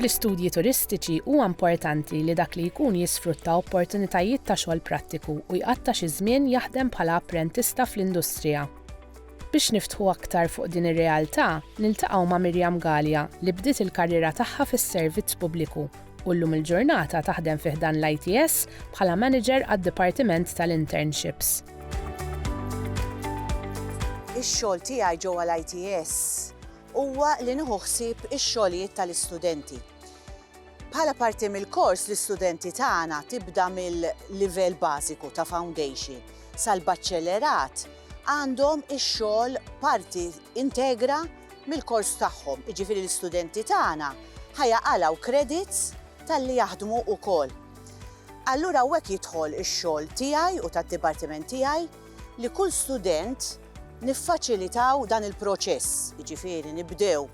Fl-istudji turistiċi huwa importanti li dak li jkun jisfrutta opportunitajiet ta' xogħol prattiku u jqatta' xi żmien jaħdem bħala apprentista fl-industrija. Biex niftħu aktar fuq din ir-realtà, niltaqgħu ma' Miriam Galea li bdiet il-karriera tagħha fis-servizz pubbliku u llum il-ġurnata taħdem fi ħdan l-ITS bħala Manager għad-Dipartiment tal-Internships. Ix-xogħol tiegħi ġewwa l-ITS huwa li nieħu ħsieb ix-xogħlijiet tal-istudenti. Bħala parti mill-kors l-istudenti tagħna tibda mill-livell bażiku ta' foundation sal-baċċellerat għandhom ix-xogħol parti integra mill-kors tagħhom, jiġifieri l-istudenti tagħna ħa jaqalgħu credits talli jaħdmu wkoll. Allura hawnhekk jidħol ix-xogħol tiegħi u tad-dipartiment tiegħi li kull student niffaċilitaw dan il-proċess, jiġifieri nibdew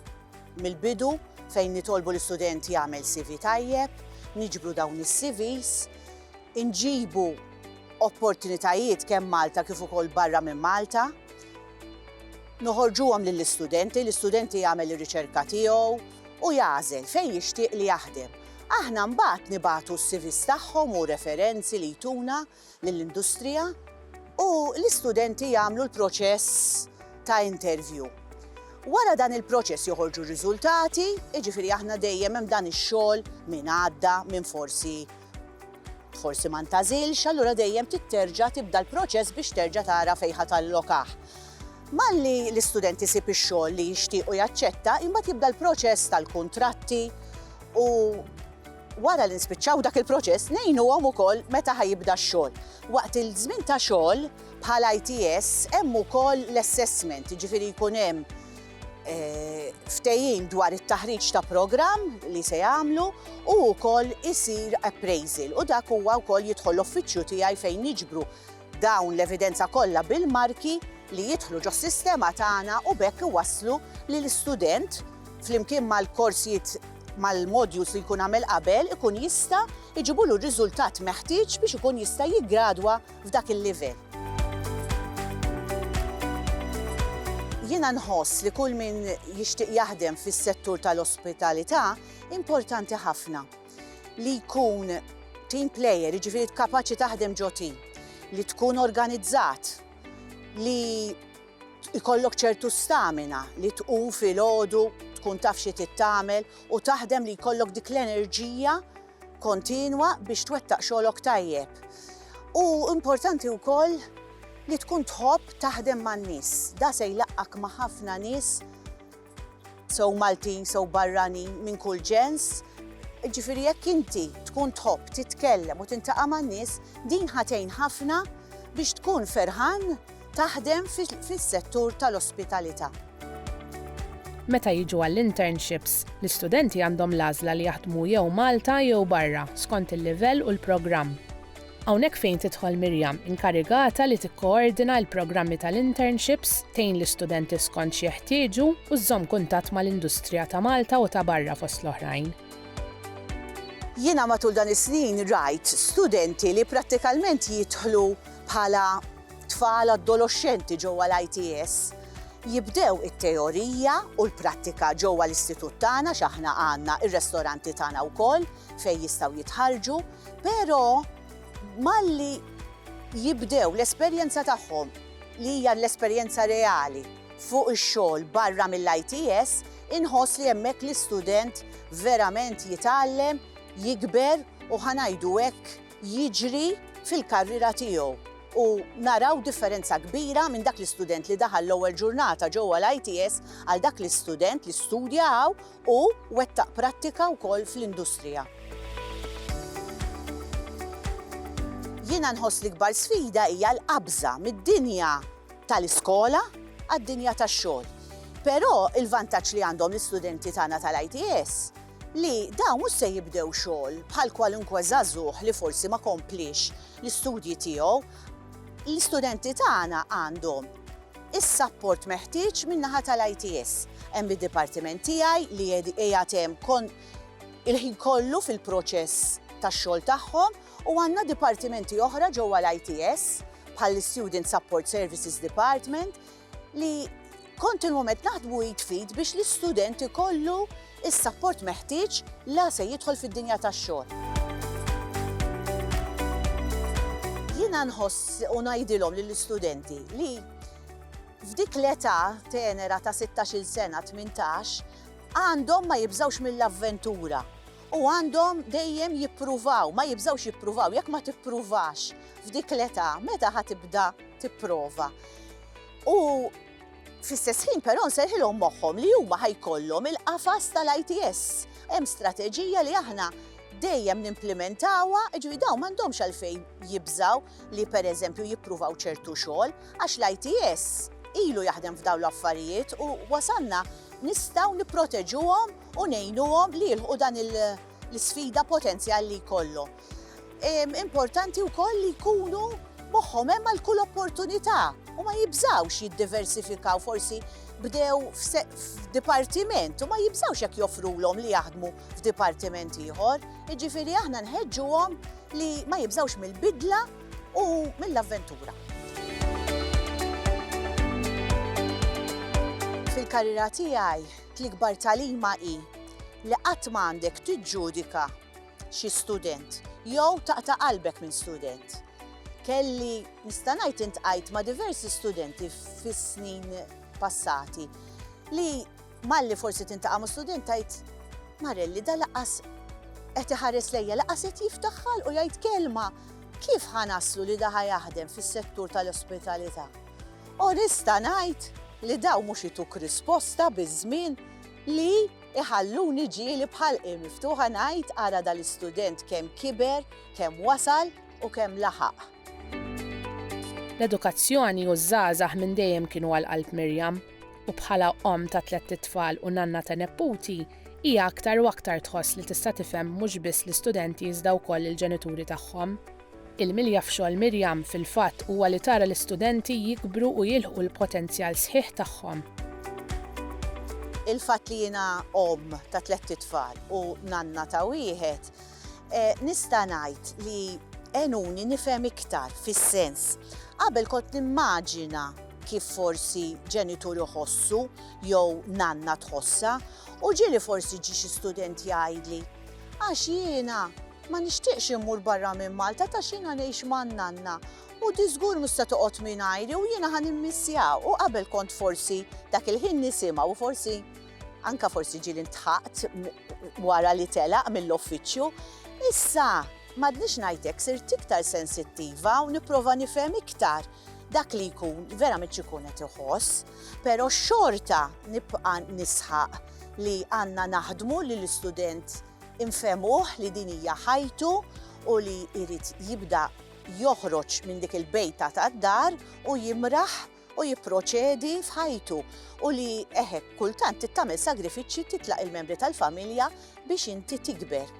mill-bidu fejn nitolbu l-istudent jagħmel CV tajjeb, niġbru dawn is-CVs, inġibu opportunitajiet kemm Malta kif ukoll barra minn Malta, Noħorġuhom lill-istudenti, l-istudenti jagħmel ir-riċerka tiegħu u jagħżel fejn jixtieq li jaħdem. Aħna mbagħad nibagħtu s-CVs tagħhom u referenzi li jtuna lill-industrija u l-istudenti jagħmlu l-proċess ta' interview. Wara dan il-proċess joħorġu r-riżultati, jiġifieri aħna dejjem hemm dan ix-xogħol minn għadda, minn forsi Forsi ma ntagħżilx, allura dejjem trid terġa' tibda l-proċess biex terġa' tara fejn ħa tallokah. Malli l-istudent isib ix-xogħol li jixtieq u jaċċetta, imbagħad jibda l-proċess tal-kuntratti u wara li nispiċċaw dak il-proċess ngħinuhom ukoll meta ħa jibda x-xogħol. Waqt il-żmien ta' xogħol bħal ITS hemm ukoll l-assessment, jiġifieri jkun hemm ftehim dwar it-taħriġ ta' programm li se jagħmlu u wkoll isir appraisal u dak huwa wkoll jidħol l-uffiċċju tiegħi fejn niġbru dawn l-evidenza kollha bil-marki li jidħlu ġos-sistema tagħna u b'hekk iwasslu li l-istudent flimkien mal-korsijiet mal-modules li jkun għamel qabel ikun jista' jġibulu r-riżultat meħtieġ biex ikun jista' jiggradwa f'dak il-livell. Jiena nħoss li kull min jixtieq jaħdem fis-settur tal-ospitalità importanti ħafna li jkun team player, jiġifieri kapaċi taħdem ġo team, li tkun organizzat, li ikollok ċertu stamina li tqum fil-ħodu, tkun taf xi tittamel u taħdem li jkollok dik l-enerġija kontinwa biex twettaq xogħlok tajjeb. U importanti wkoll li tkun tħobb taħdem man-nies. Da se jlaqqak ma' ħafna nies sew Maltin, sew barrani minn kull ġens. Ġifieri jekk inti tkun tħobb titkellem u tintaqa' man-nies, din ħatejn ħafna biex tkun ferħan taħdem fis-settur tal-ospitalità. Meta jiġu għall-internships, l-istudenti għandhom l-għażla li jaħdmu jew Malta jew barra, skont il-livell u l-programm. Hawnhekk fejn tidħol Miriam, inkarigata li tikkoordina l-programmi tal-internships, tgħin l-istudenti skont xi jeħtieġu u żżomm kuntatt mal-industrija ta' Malta u ta' barra fost l-oħrajn. Jiena matul dan is-snin rajt studenti li prattikalment jidħlu bħala tfal adoloxxenti ġewwa l-ITS jibdew it-teorija u l-prattika ġewwa l-istitut tagħna x'aħna għandna r-restoranti tagħna wkoll fejn jistgħu jitħarrġu, pero malli jibdew l-esperjenza tagħhom li hija l-esperjenza reali fuq ix-xogħol barra mill-ITS inħoss li hemmhekk l-istudent verament jitgħallem, jikber u ħa ngħidu hekk, jiġri fil-karriera tiegħu u naraw differenza kbira minn dak l-istudent li daħal l-ewwel ġurnata ġewwa l-ITS għal dak l-istudent li studja hawn u wettaq prattika wkoll fl-industrija. Jiena nħoss l-ikbar sfida hija l-qabża mid-dinja tal-iskola għad-dinja tax-xogħol. Però l-vantaġġ li għandhom l-istudenti tagħna tal-ITS li dawn mhux se jibdew xogħol bħal kwalunkwe żagħżugħ li forsi ma kompliex l-istudji tiegħu. L-istudenti tagħna għandhom is-sapport meħtieġ min-naħa tal-ITS. Hemm id-dipartiment tiegħi li qiegħed hemm il-ħin kollu fil-proċess tax-xogħol tagħhom u għandna dipartimenti oħra ġewwa l-ITS bħall-Student Support Services Department li kontinwament naħdmu id fid biex l-istudent ikollu is-sapport meħtieġ la se jidħol fid-dinja tax-xogħol. Jiena nħoss u ngħidilhom lill-istudenti li f'dik l-età tenera ta' 16-il sena, 18, għandhom ma jibżgħux mill-avventura u għandhom dejjem jippruvaw, ma jibżgħux jippruvaw, jekk ma tippruvax f'dik l-età, meta ħa tibda tipprova. U fl-istess ħin però nserħilhom moħħhom li huma ħajkollhom il-qafas tal-ITS. Hemm strateġija li aħna dejjem nimplementawha, ġwi dawn m'għandhomx għalfejn jibżaw li pereżempju jippruvaw ċertu xogħol għax l-ITS ilu jaħdem f'dawn l-affarijiet u wasanna nistgħu nipproteġuhom u ngħinuhom li jilħu dan il- l-sfida potenzjal li jkollhom. Importanti wkoll li jkunu moħħhom hemm għal kull opportunità u ma jibżgħux jiddiversifikaw forsi bdew f'dipartiment u ma jibżgħux jekk joffrulhom li jaħdmu f'dipartiment ieħor. Jiġifieri aħna nħeġġuhom li ma jibżgħux mill-bidla u mill-avventura. Fil-karriera tiegħi, l-ikbar tagħlima hi li qatt ma għandek tiġġudika xi student jew taqta' qalbek minn student. Kelli, nista' ngħid intqajt ma' diversi studenti fis-snin passati li malli forsi tintaqa' ma' student tgħid, Marelli da laqqas qed iħares lejja, laqqas qed jiftaħ ħalq u jgħid kelma. Kif ħa naslu li da ħa jaħdem fis-settur tal-ospitalità? U nista' ngħid li dawn mhux ituk risposta biż-żmien li Iħalluni ġieli b'ħalqi miftuħa ngħid ara dal-istudent kemm kiber, kemm wasal u kemm laħaq. L-edukazzjoni u ż-żgħażagħ minn dejjem kienu għal qalb Miriam, u bħala omm ta' tlett itfal u nanna ta' nepputi, hija aktar u aktar tħoss li tista' tifhem mhux biss l-istudenti iżda wkoll il-ġenituri tagħhom. Il-milja f'xogħol Miriam, fil-fatt, huwa li tara l-istudenti jikbru u jilħqu l-potenzjal sħiħ tagħhom. Il-fatt li jiena omm ta' tlett itfal u nanna ta' wieħed, nista' ngħid li għenuni nifhem iktar fis-sens. Qabel kont nimmaġina kif forsi ġenitur iħossu jew nanna tħossha u ġieli forsi ġie xi student jgħidli, Għax jiena Ma nixtieqx immur barra minn Malta ta' xina ngħix man-nanna u di żgur mhux se toqgħod mingħajri u jiena ħa nimmissja u qabel kont forsi dak il-ħin nisimha u forsi anka forsi ġieli ntħaqt wara li telaq mill-offiċċju. Issa m'għadnix ngħid hekk sirt iktar sensittiva u nipprova nifhem iktar dak li jkun verament x'ikun qed iħoss, però xorta nibqa' nisħaq li għandna naħdmu li l-istudent Infehmuh li din hija ħajtu u li jrid jibda joħroġ minn dik il-bejta tad-dar u jimraħ u jipproċedi f'ħajtu u li eħek kultant trid tagħmel sagrifiċċji titlaq il-membri tal-familja biex inti tikber.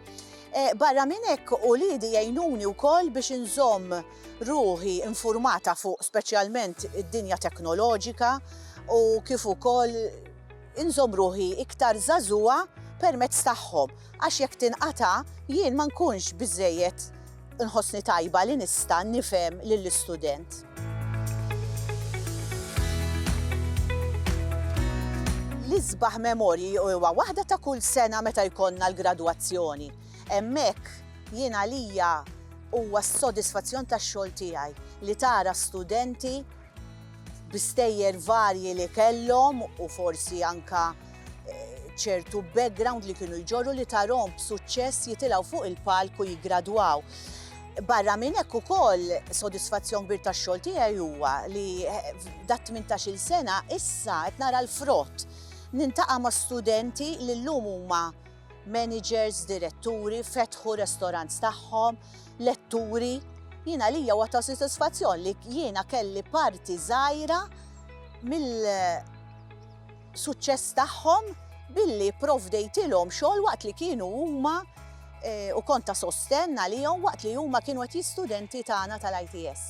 E, barra minn hekk uliedi jgħinuni wkoll biex inżomm ruħi informata fuq speċjalment id-dinja teknoloġika u kif ukoll Inżomm ruħi iktar żagħżugħa permezz tagħhom, għax jekk tinqata' jien ma nkunx biżżejjed nħossni tajba li nista' nifhem lill-istudent. L-isbaħ memorji huwa waħda ta' kull sena meta jkollna l-gradwazzjoni. Hemmhekk jien għalija huwa s-sodisfazzjon tax-xogħol tiegħi li tara studenti, bi stejjer varji li kellhom u forsi anke ċertu background li kienu jġorru li tarhom b'suċċess jitilgħu fuq il-palk u jiggradwaw. Barra minn hekk ukoll sodisfazzjon kbir tax-xogħol tiegħi huwa li dat 18-il sena issa qed nara l-frott. Nintaqa' ma' studenti li llum huma Managers, diretturi, fetħu restaurants tagħhom, letturi. Jien għalija huwa ta' sodisfazzjon li jiena kelli parti żgħira mill suċċess tagħhom billi provdejtilhom xogħol waqt li kienu huma eh, u konta sostenn għalihom waqt li huma kienu qed studenti tagħna tal-ITS.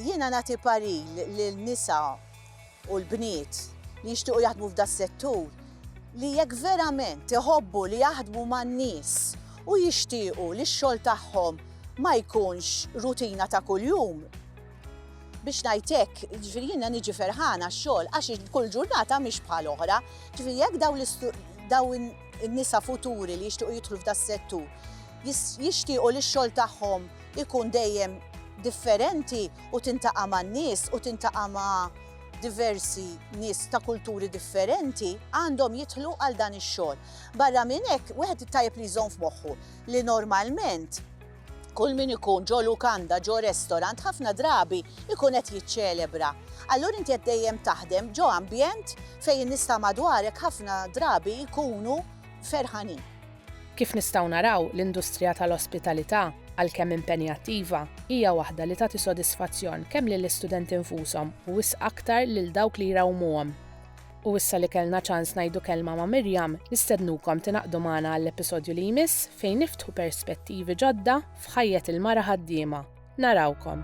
Jiena nagħti paril lil nisa u l-bniet li jixtiequ jaħdmu f'das-settur li jekk verament iħobbu li jaħdmu man-nies u jixtiequ li x-xogħol tagħhom ma jkunx rutina ta' kuljum, biex ngħid hekk, jiġifieri jiena niġi ferħana x-xogħol għax kull ġurnata mhix bħal oħra. Jiġifieri jekk dawn in-nisa futuri li jixtiequ jidħlu f'das-settur jixtiequ li x-xogħol tagħhom ikun dejjem differenti u tintaqa' man-nies u tintaqa' ma' diversi nies ta' kulturi differenti, għandhom jidħlu għal dan ix-xogħol. Barra minn hekk, wieħed tajjeb li jżomm f'moħħu li normalment kull min ikun ġo lukanda, ġo restorant, ħafna drabi jkun qed jiċċelebra. Allura inti qed dejjem taħdem ġo ambjent fejn in-nies ta' madwarek ħafna drabi jkunu ferħanin. Kif nistgħu naraw, l-industrija tal-ospitalità, għalkemm impenjattiva, hija waħda li tagħti sodisfazzjon kemm lill-istudenti nfushom u wisq aktar lil dawk li jrawwmuhom. U issa li kellna ċans ngħidu kelma ma' Miriam, nistednukom tingħaqdu magħna għall-episodju li jmiss fejn niftħu perspettivi ġodda f'ħajjet il-mara ħaddiema. Narawkom!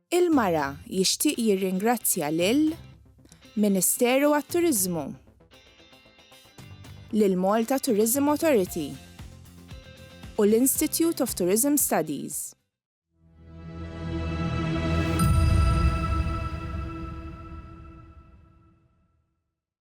Il-Mara jixtieq jirringrazzja lil Ministeru għat-Turiżmu, lill-Malta Tourism Authority u l-Institute of Tourism Studies.